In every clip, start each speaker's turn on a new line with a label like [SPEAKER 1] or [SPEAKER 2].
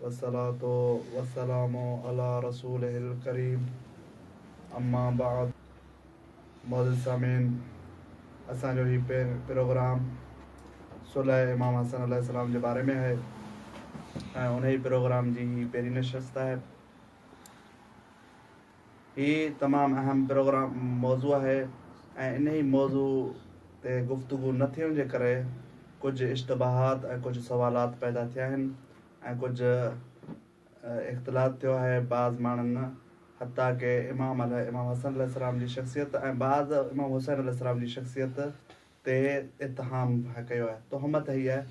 [SPEAKER 1] والصلوة والسلام علي رسوله الڪريم اما بعد معزز سامعين اسان جو هي پروگرام صلح امام حسن عليه السلام جي باري ۾ آهي ۽ انهي پروگرام جي هي پهرين نشست آهي هي تمام اهم پروگرام موضوع آهي ۽ انهي موضوع تي گفتگو نه ٿيڻ جي ڪري ڪجهه اشتباهات ۽ ڪجهه سوالات پيدا ٿيا آهن ۽ ڪجهه اختلاط ٿيو آهي بعض ماڻهن حتيٰ ڪي امام امام حسن عليه السلام جي شخصيت ۽ بعض امام حسين عليه السلام جي شخصيت تي اتهام ڪيو آهي تهمت هئي آهي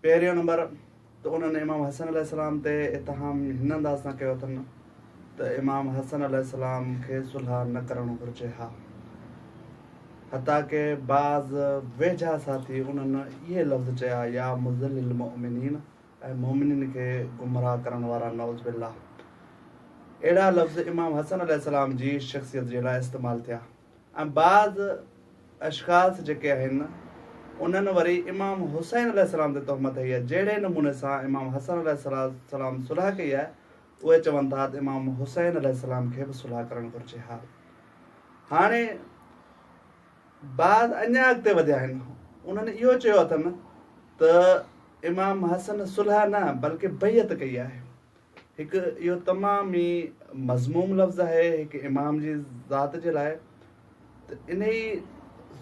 [SPEAKER 1] پهريون نمبر ته انهن امام حسن عليه السلام تي اتهام هن انداز سان ڪيو اٿن ته امام حسن عليه السلام کي صلح نه ڪرڻ گهرجي ها حتيٰ ڪي بعض ويجها ساٿي انهن اهي لفظ چيا يا مذل المؤمنين ۽ مؤمنين کي گمراهه ڪرڻ وارا نعوذ بالله اهڙا لفظ امام حسن عليه السلام جي شخصيت جي لاء استعمال ٿيا ۽ بعض اشخاص جيڪي آهن انهن وري امام حسين عليه السلام تي تهمت هنئي آهي جهڙي نموني سان امام حسن عليه السلام صلح ڪئي آهي اهي چون ٿا ته امام حسين عليه السلام کي به صلح ڪرڻ گهرجي ها هاڻي بعض اڃا اڳتي وڌيا آهن انهن اهو چيو اٿن ته امام حسن صلح نه بلڪه بيعت ڪئي آهي هڪ اهو تمام ئي مذموم لفظ آهي هڪ امام جي ذات جي لاء ته انهي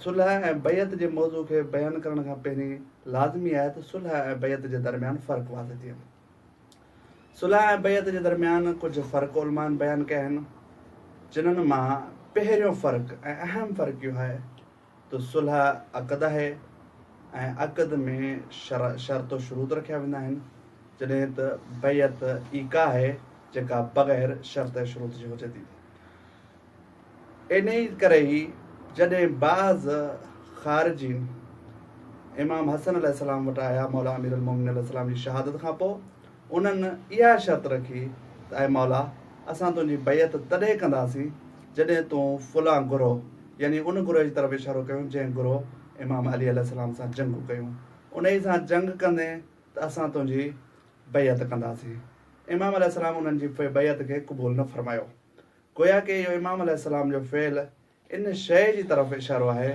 [SPEAKER 1] صلح ۽ بيعت جي موضوع کي بيان ڪرڻ کان پهرين لازمي آهي ته صلح ۽ بيعت جي درميان فرق واضح ٿئي. صلح ۽ بيعت جي درميان ڪجهه فرق علمائن بيان ڪيا آهن جنهن مان پهريون فرق ۽ اهم فرق اهو آهي ته صلح عقد آهي ۽ عقد ۾ شرع شرط و شروط رکيا ويندا آهن جڏهن ته بيعت ايقاع آهي جيڪا بغير شرط ۽ شروط جي هجي ٿي. انهيء ڪري ئي جڏهن بعض خارجين امام حسن عليه السلام وٽ آيا مولا امير المومنين عليه السلام جي شهادت کان پوء انهن اها شرط رکي ته اي مولا! اسان تنهنجي بيعت تڏهن ڪنداسين جڏهن تون فلان گروهه، يعني ان گروهه جي طرف اشارو ڪيو جنهن گروهه امام علي عليه السلام سان جنگون ڪيون، انهي سان جنگ ڪندين ته اسان تنهنجي بيعت ڪنداسين. امام عليه السلام انهن جي بيعت کي قبول نه فرمايو. گويا ڪي اهو امام عليه السلام جو فعل ان شيء جي طرف اشارو آهي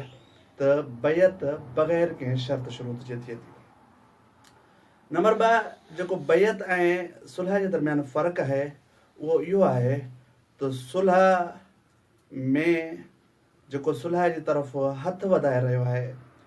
[SPEAKER 1] ته بيعت بغير ڪنهن شرط شروط جي ٿئي ٿي. نمبر ٻه جيڪو بيعت ۽ صلح جي درميان فرق آهي اهو اهو آهي ته صلح ۾ جيڪو صلح جي طرف هٿ وڌائي رهيو آهي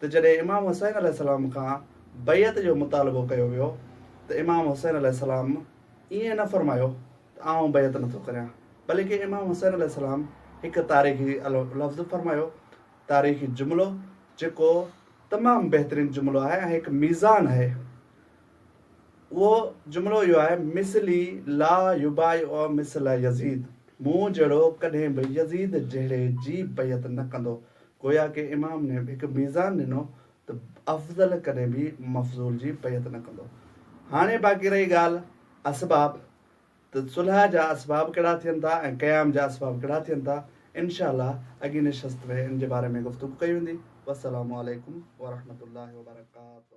[SPEAKER 1] ته جڏهن امام حسين عليه السلام کان بيعت جو مطالبو ڪيو ويو ته امام حسين عليه السلام ائين نه فرمايو ته آئون بيعت نه ٿو ڪريان بلڪه امام حسين عليه السلام هڪ تاريخي لفظ فرمايو، تاريخي جملو، جيڪو تمام بهترين جملو آهي ۽ هڪ ميزان آهي اهو جملو اهو آهي، مثلي لا يبايع مثل يزيد، مون جهڙو ڪڏهن به يزيد جهڙي جي بيعت نه ڪندو. گويا ڪي امام ني هڪ ميزان ڏنو ته افضل ڪڏهن به مفضول جي بيعت نه ڪندو. هاڻي باقي رهي ڳالهه اسباب ته صلح جا اسباب ڪهڙا ٿين ٿا ۽ قيام جا اسباب ڪهڙا ٿين ٿا، انشاء الله اڳين نشست ۾ ان جي باري ۾ گفتگو ڪئي ويندي. والسلام عليڪم ورحمة الله وبرڪاته.